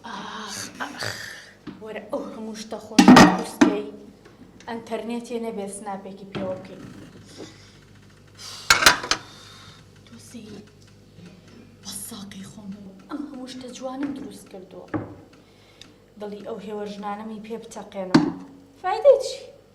ئاخ ئاخ وەرە ئەو هەموو شتە خۆش قورسکەی ئەنتەرنێتێ نەبێ سناپێکی پێوە بکەین تۆسی بە ساقی خۆم ئەم هەموو شتە جوانم دروست کردووە دڵی ئەو هێوە ژنانەمی پێ بتەقێنەوە فایدەی چی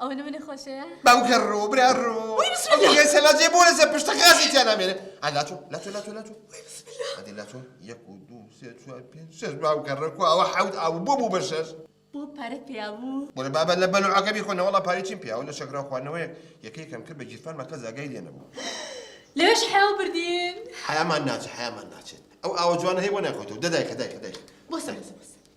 ئەوە نمونە خۆشەیە. باو گەڕۆ برا ڕۆ. وی بسم اللە. ئەو یەسە لاجێ بۆ لەسە پشتە غازی تیا نامێنێ. ئا لاتۆ لاتۆ لاتۆ لاتۆ. وی بسم اللە. ئەدی لاتۆ یەک و دوو سێ چوار پێنج شەش باو گەڕە کو ئەوە حەوت ئاو بۆ بوو بە شەش. بۆ پارەت پیا بوو. بۆرە بابە لە بەلوعەکە بیخۆ نەوەڵا پارەی چیم پیاوە لە شەکراو خواردنەوەیەک یەکەیەکم کرد بە گیرفانما کەس ئاگای لێ نەبوو. لەوێش حەیاو بردین. حەیامان ناچێت حەیامان ناچێت ئەو ئاوە جوانە هەی بۆ نایخۆیتەوە دە دایخە دایخە دایخە. بۆسە بۆسە بۆسە.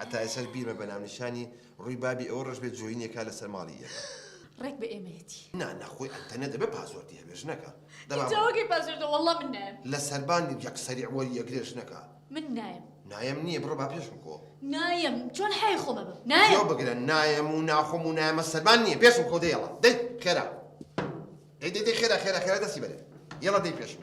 هەتا ئێساش بیرمە بە ناونیشانی ڕووی بابی ئەوە ڕەش بێت جۆینێ کا لەسەر ماڵی ئێمە. ڕێک بە ئێمەیەتی نا نەخۆی ئەتە نەدە بە پاسۆردی هەبێژ نەکە دەماوەگەی پاسۆردە وەڵڵا من نایم لە سەربان یەک سەری وەری یەگرێش نەکە من نایم نایم نییە بڕە با پێشم کۆ نایم چۆن حی خۆمە بم نایە بگرە نایم و ناخۆم و نایمە سەربان نییە پێشم کۆ دەیەڵە دەی خێرا دەی دەی خێرا خێرا خێرا دەستی بەرێ یەڵە دەی پێشم